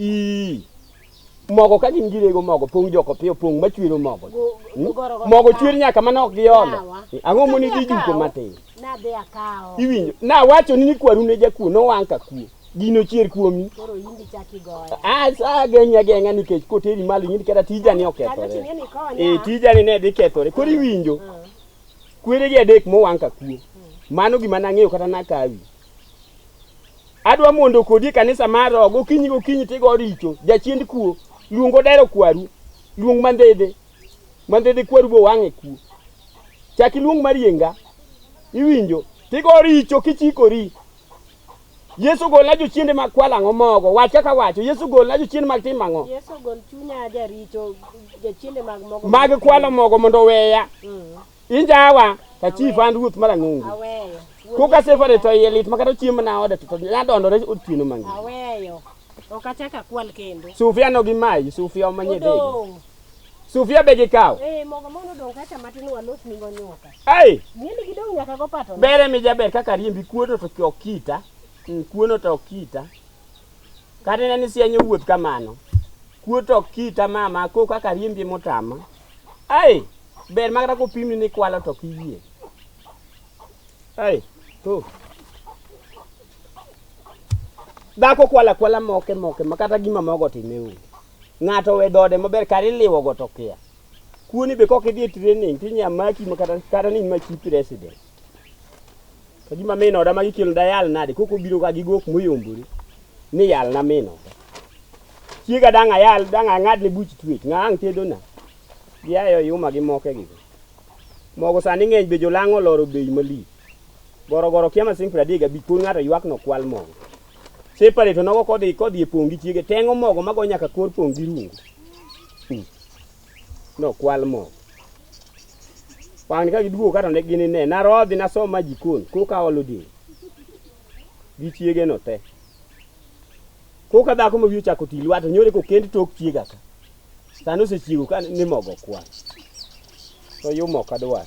i mogo ka gin girego mogo pong joko piyo pong machwero mogo hmm? mogo chwer nyaka mana ok giolo ang'o moni dhi juko matin iwinjo nawacho ni kwaru ne jakuo nowang' ka kuo gino chier kuomi ageng'i ageng'a nikech koteri malo ing'eni kata tijani okethore ee tijani ne dhi kethore koro iwinjo hmm. Kweregi adek mowang' ka kuo. Mano gima nang'eyo kata nakawi. Adwa mondo kodi e kanisa mar roho gokinyi gokinyi tigo richo, jachiend kuo, luong odero kwaru, luong mandhedhe, mandhedhe kwaru bo wang'e kuo. Chak iluong marienga, iwinjo, tigo richo kichikori. Yesu golna jochiende mag kwalo ang'o mogo? Wach kaka wacho. Yesu golna jochiende mag timo ang'o? Yesu gol chunya jaricho jochiende mag mogo. Mag kwalo mogo mondo oweya. Mm. Injawa ka chief an ruoth mar ang'ongo. Aweyo. Koka sefare to iye lit makata chiemo na oda to nadondore otieno mang'eny. Aweyo. Ok achak akwal kendo. Sufia no gi mai, sufia omanye dego. Odong'. Sufia be gikaw. Eh, mogo mondo dong kacha matin walos ni gonyoka. Ai. Ng'eni gidong nyaka go pato. Bere mi jaber kaka riembi kuono to chok kita. Mm, kuono to kita. Kata ne ni sianyo wuoth kamano. Kuo to kita mama ko kaka riembi motama. Ai. Ber magara ko pimni ni kwalo to kiyie. Ai. To. Dhako kwala kwala moke moke makata gima mogo timeu. Ng'ato owe dode maber kar iliwo go to kia. Kuoni be kok idhi e training to inya maki ma kata kata ni maki president. To gima min oda magi kelo da yal nade koko biro ga gi gok moyombore ni yal na min oda. Chiega dang' ayal dang' ang'ad ne buch twech ng'a ang' tedo na. Gi ayo yuma gi moke gi. Mogo sani ng'eny be jolang' oloro bei malich. Goro goro kia masing' 35 koro ng'ato ywak no kwal mogo. separate nogo kodhi kodhi e pong' gi chiege teng'o mogo mago nyaka kor pong' gi rungu Hmm. nokwal mogo wang'ni ka giduogo kato ne gini ne narodhi nasom ma jikon koka olo diny gi chiege no te koka dhako ma wiye ochako ti lwato nyore kokend tok chiega ka sani osechiego ka ni mogo kwal to yumo kadwar